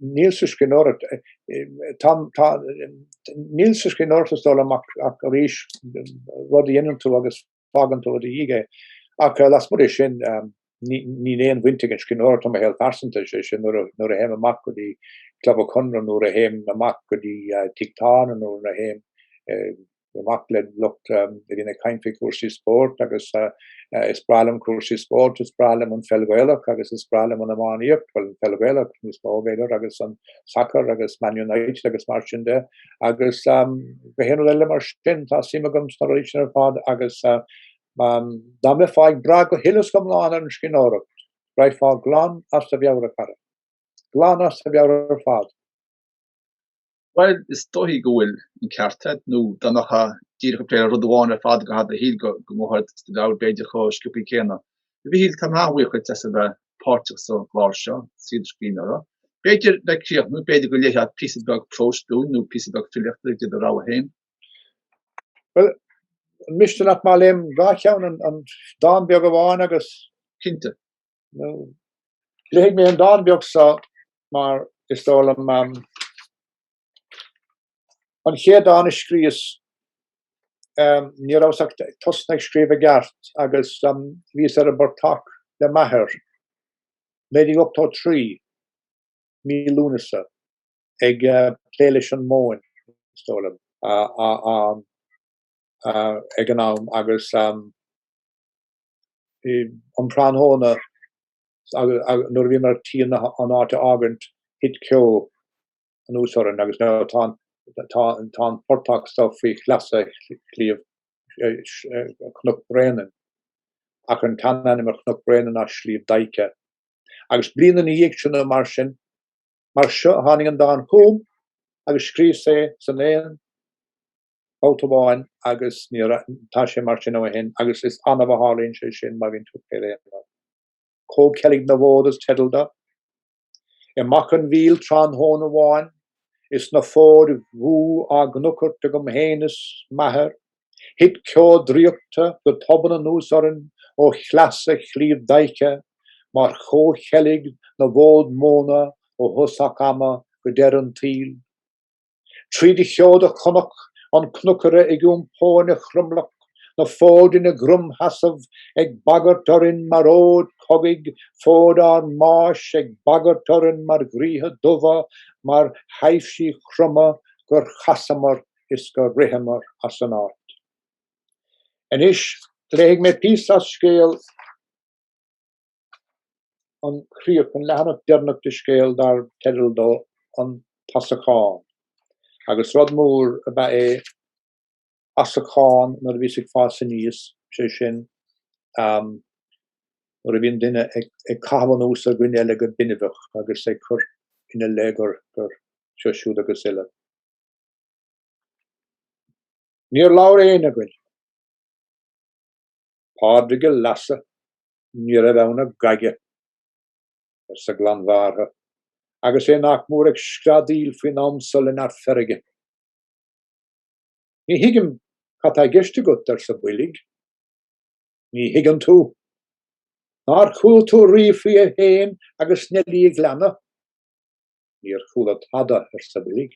Níl sa scríbhneoireacht, tá, tá, níl sa scríbhneoireacht is dóigh liom ach, ach arís rud a dhéanann tú agus fágann tú i do dhiaidh é. Ach lasmuigh de sin, ní, níl aon bhaint ag an scríbhneoireacht le mo shaol phearsanta, is é sin, nuair a, nuair a théim amach go dtí Club an Chonartha, nuair a théim amach go dtí tigh tábhairne, nuair a théim, Bím amach le lucht a bhíonn ag caint faoi chúrsaí spóirt agus is breá liom cúrsaí spóirt, is breá liom an pheil Ghaelach agus is breá liom an iománaíocht, bhuel an pheil Ghaelach níos mó b'fhéidir agus an sacar agus Man United agus mar sin de agus gach aon rud eile mar sin. Tá suim agam sna rudaí sin ar fad agus dá mbeifeá ag brath go huile is go hiomlán ar an scríbhneoireacht, raghfá glan as do mheabhair a chara. Glan as do mheabhair ar fad. Bhuel, is dóichí go bhfuil an ceart agat, nó dá mbeifeá díreach ag plé le rud amháin ar fad i gcaitheamh do shaoil go n-imeofá as do mheabhair b'fhéidir chomh sciopthaí céanna. A Mhichíl, táim thar a bheith buíoch duit as a bheith páirteach sa gclár seo, Saol Scríbhneora. B'fhéidir, le críochnú, b'fhéidir go léifeá píosa beag próis dúinn nó píosa beag filíochta de do rogha féin? Bhuel, an miste leat má léim dhá cheann an dán beag amháin agus? Cinnte. nó. Léifidh mé an dán beag so mar is dóigh liom an chéad dán a scríos ní rabhas ach ag tosnú ag scríobh i gceart agus bhíos ar an bportach le m'athair 1983 mí Lúnasa ag plé leis an móin is dóigh liom ag an am agus an tráthnóna nuair a bhíomar chun an áit a fhágaint thit ceo anuas orainn agus tá an tá an portach so faoi shleasa Shliabh Chnoc Bréanainn ach an tseanainm ar Chnoc Bréanainn ná Sliabh Daidhche. Agus bliain ina dhiaidh sin nó mar sin mar seo tháinig an dán chugam agus scríos é san aon bhabhta amháin agus níor fhan. Tá sé mar sin ó shin agus is annamh a tharlaíonn sé sin má bhíonn tú ag plé le haon rud. Comhcheilg na bhFód is teideal dó. I Macha an Mhíl tráthnóna amháin is na fóid dhubha á gcnuchairt agam féin is m'athair, thit ceo draíochta go tobann anuas orainn ó shleasa Shliabh Daidhche mar chomhcheilg na bhfód móna ó thosach ama go deireadh an tsaoil. Tríd an gceo do chonac an cnuchaire ag iompó ina chromleac, na fóid ina gcromsheasamh ag bagairt orainn mar fhóid chogaidh, fóid ár mbáis ag bagairt orainn mar dhraoithe dubha, mar thaibhsí croma gur chasamar is gur ritheamar as an áit. Anois, léifidh mé píosa as scéal. an chríoch, an leathanach deireanach de scéal dar teideal dó An tAsachán, agus rud mór ab ea é asachán nuair a bhíos ag fás aníos, sé sin, nuair a bhíonn duine ag caitheamh anuas ar dhuine eile go binbeach agus ag cur ina leith gur seo, siúd agus uile. Níor labhair éinne againn. Pádraig an Leasa, ní raibh ann ach gaige, arsa Glanbhearrtha, agus é nach mór ag screadaíl faoin am so le neart feirge. Ní thuigim cad tá i gceist agat, arsa Boilg. Ní thuigeann tú? Nár chuala tú riamh faoi é féin agus Neilí an Ghleanna? Níor chuala tada, arsa Boilg.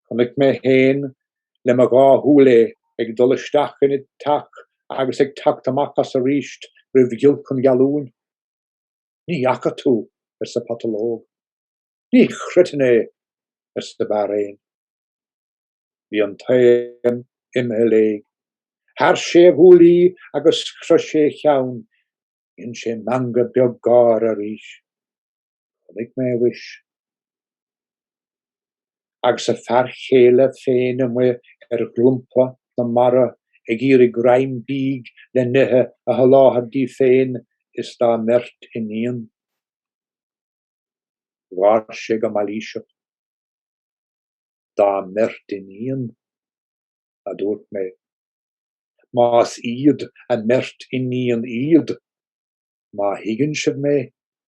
Chonaic mé féin le mo dhá shúil é ag dul isteach ina teach agus ag teacht amach as arís roimh ghiolc an ghealúin. Ní fhaca tú! arsa Patalóg. Ní chreidfinn é! arsa Beár Éin. Bhí an t-éan imithe léi. Shearr sé a ghuaillí agus chroith sé a cheann. Dhein sé meangadh beag gáire arís. Chonaic mé a bhois agus a fear chéile féin amuigh ar dhromchla na mara ag iarraidh greim bídh le n-ithe a sholáthar di féin is dá mbeirt iníon. Gháir sé go mailíseach. Dá mbeirt iníon? a dúirt mé. Más iad a mbeirt iníon iad, má thuigeann sibh mé?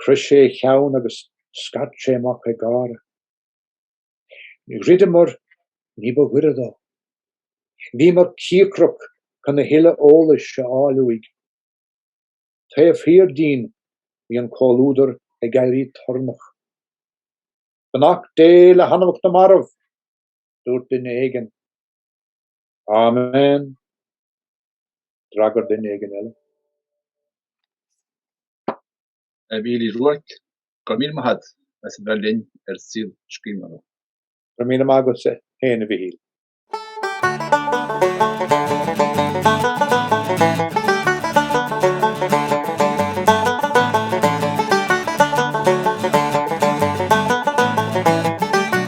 Chroith sé a cheann agus scairt sé amach ag gáire. Dhruideamar ní ba ghoire dó. Bhíomar cíocrach chun a thuilleadh eolais a fháil uaidh. Taobh thiar dínn bhí an comhluadar ag éirí torannach. Beannacht Dé le hanamacha na marbh! dúirt duine éigin. Amen! d'fhreagair duine éigin eile. A Mhichíl Uí Ruairc, go raibh míle maith agat as a bheith linn ar Saol Scríbhneora. Go raibh míle maith agat féin, a Mhichíl.